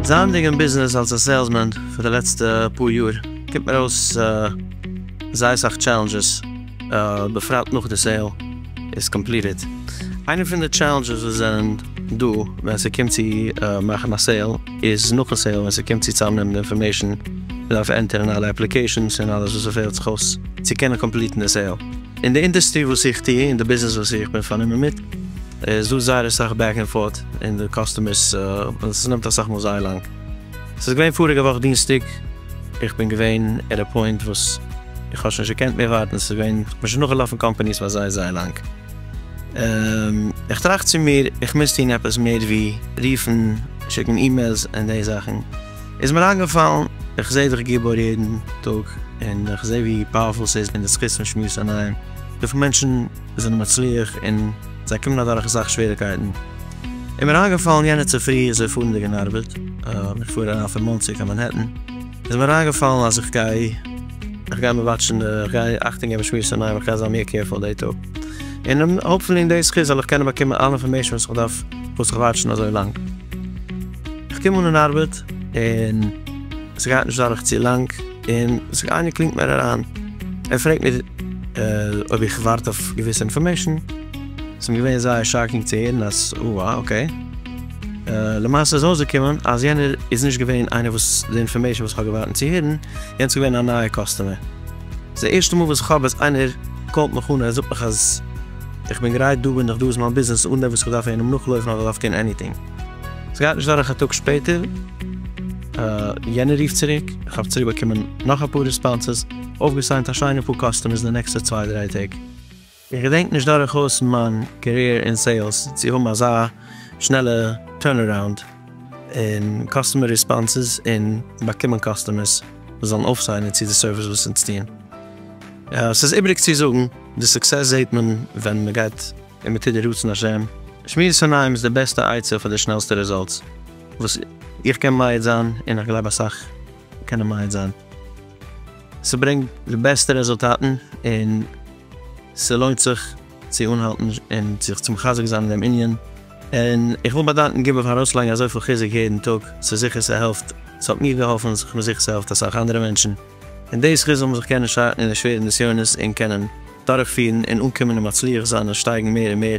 זייענדיג אין ביזנעס אלס א סעילסמען פאר די לעצטע פאר יאר קומט מיר אויס זייער סאך טשעלענדזשעס, בפרט נאך די סעיל איז קאמפליטעד. איינער פון די טשעלענדזשעס וואס זענען דא ווען ס'קומט צו מאכן א סעיל איז נאכן סעיל ווען ס'קומט צו צאמנעמען די אינפארמעישן, מ'דארף ענטערן אלע אפליקעישאנס און אלעס וואס ס'פעלט זיך אויס צו קענען קאמפליטן די סעיל. אין די אינדעסטרי וואס איך טוה, אין די ביזנעס וואס איך בין פארנומען מיט, איז דא זייער אסאך בעק ענד פארט אין די קאסטומערס, און ס'נעמט אסאך מאל זייער לאנג. ס'איז געווען פאריגע וואך דינסטאג, איך בין געווען עט א פוינט וואס איך האב שוין נישט געקענט מער ווארטן, ס'איז געווען, איך בין שוין נאכגעלאפן קאמפאניס פאר זייער זייער לאנג, איך טראכט צו מיר, איך מוז טון עפעס מער ווי רופן, שיקן אימעילס און די זאכן, איז מיר איינגעפאלן, איך זעה דיך גיבור יעדן טאג, און איך זעה ווי פאוערפול ס'איז און די זכות פון שמועסן אינאיינעם, וויפיל מענטשן זענען מצליח און זיי קומען אדורך אסאך שוועריקייטן, איז מיר איינגעפאלן יענע צופרי איך זיי פארנדיג אין ארבעט, איך פאר אריין פון מאנסי קיין מאנהעטן, איז מיר איינגעפאלן אז איך גיי איך גיי מיר וואטשן די איך גיי אכטונג געבן שמירת עיניים איך גיי זיין מער קעירפול די טאג, און האפפולי אין די זכות זאל איך קענען באקומען אלע אינפארמעישן וואס איך דארף פאר זיך וואטשן אזוי לאנג. איך קום אן אין ארבעט און ס'גייט נישט דורך צו לאנג און איינער קלינגט מיר אריין, ער פרעגט מיר אויב איך ווארט אויף געוויסע אינפארמעישן, ס'מיר געווען זייער שאקינג צו הערן אז אה אה אקעי. למעשה איז אויסגעקומען אז יענער איז נישט געווען איינער וואס די אינפארמעישן וואס כ'האב געבאטן צו הערן, יענץ געווען א נייע קאסטומער. ס'די ערשטע מאל וואס כ'האב אז איינער קאלט מיך אן און ער זאגט מיך אז איך בין גרייט דא בין איך דא איז מיין ביזנעס אן דעם וואס כ'דארף איינעם נאכלויפן אדער כ'דארף טון עניטינג. ס'גייט נישט דורך א טאג שפעטער יענער רופט צוריק, כ'האב צוריק באקומען נאך אפאר ריספאנסעס, אויפגעסיינט א שיינע פאר קאסטומערס די נעקסטע צוויי דריי טעג. איך געדענק נישט דורכאויס מיין קעריער אין סעילס צו האבן אזא שנעלע טורנ-אראונד אין קאסטומער ריספאנסעס און באקומען קאסטומערס וואס זאלן אויפסיינען צו די סערוויס וואס אונז טוען. ס'איז איבריג צו זאגן, די סוקסעס זעהט מען ווען מ'גייט און מ'טוט די רצון השם. שמירת שונאים איז די בעסטע עצה פאר די שנעלסטע רעזאלטס וואס איך קען מעיד זיין און איך גלייב אסאך קענען מעיד זיין. ס'ברענגט די בעסטע רעזולטאטן און. ס'לוינט זיך צו אנהאלטן און זיך צו מחזק זיין אין דעם ענין, און איך וויל באדאנקען גובה פארן ארויסלייגן אזויפיל חיזוק יעדן טאג, ס'איז זיכער ס'העלפט, ס'האט מיר געהאלפן, ס'איז מיר זיכער ס'העלפט אסאך אנדערע מענטשן, און די זכות זאל מען זיך קענען שטארקן אין די שווערע נסיונות און קענען דורכפירן און אנקומען און מצליח זיין און שטייגן מער און מער.